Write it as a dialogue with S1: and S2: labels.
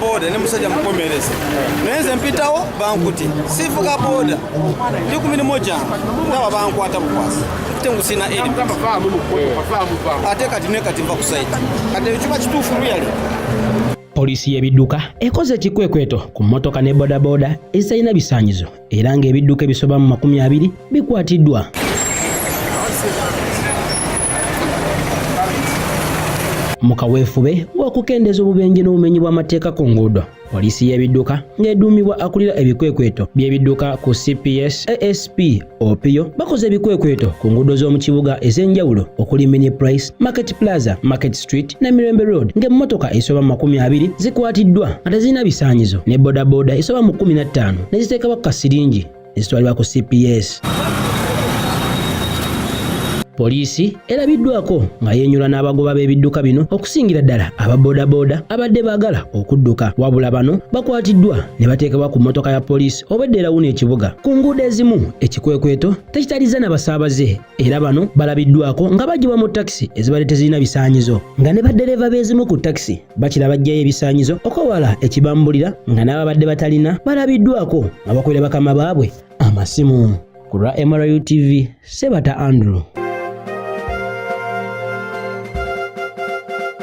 S1: boda ne musajja mukomereze naye nze mpitawo bankute sivuga boda ndi ku mirimu gyange ndaba bankwata bukwasi ate ngusina ate kati ne kati nva ku saiti kati ekiba kituufu luyale poliisi
S2: y'ebidduka ekoze ekikwekweto ku mmotoka ne bodaboda ezitalina bisaanyizo era ng'ebidduka ebisoba mu makumi abiri bikwatiddwa. mu kaweefube w'okukendeeza obubenje n'obumenyi bw'amateeka ku nguudo poliisi y'ebidduka ng'eduumibwa akulira ebikwekweto by'ebidduka ku cps asp opio bakoze ebikwekweto ku nguudo z'omu kibuga ez'enjawulo okuli mini price market plaza market Street ne Mirembe Road ng'emmotoka esoba mu makumi abiri zikwatiddwa nga tezirina bisaanyizo ne bodaboda esoba mu kkumi na ttaano ne ziteekebwa ku kasiringi ne zitwalibwa ku CPS. Poliisi erabiddwako nga yeenyula n'abagoba b'ebidduka bino okusingira ddala aba bodaboda abadde baagala okudduka wabula bano bakwatiddwa ne bateekebwa ku mmotoka ya poliisi obwedda erawuna ekibuga ku nguudo ezimu ekikwekweto tekitalizza na basaabaze era bano balabiddwako nga bagibwa mu takisi ezibadde tezirina bisaanyizo nga ne baddereeva b'ezimu ku takisi bakira bajjayo ebisaanyizo okwewala ekibambulira nga n'ababadde batalina balabiddwako nga bakolera bakama baabwe amasimu ku lwa mru tv sebata andrew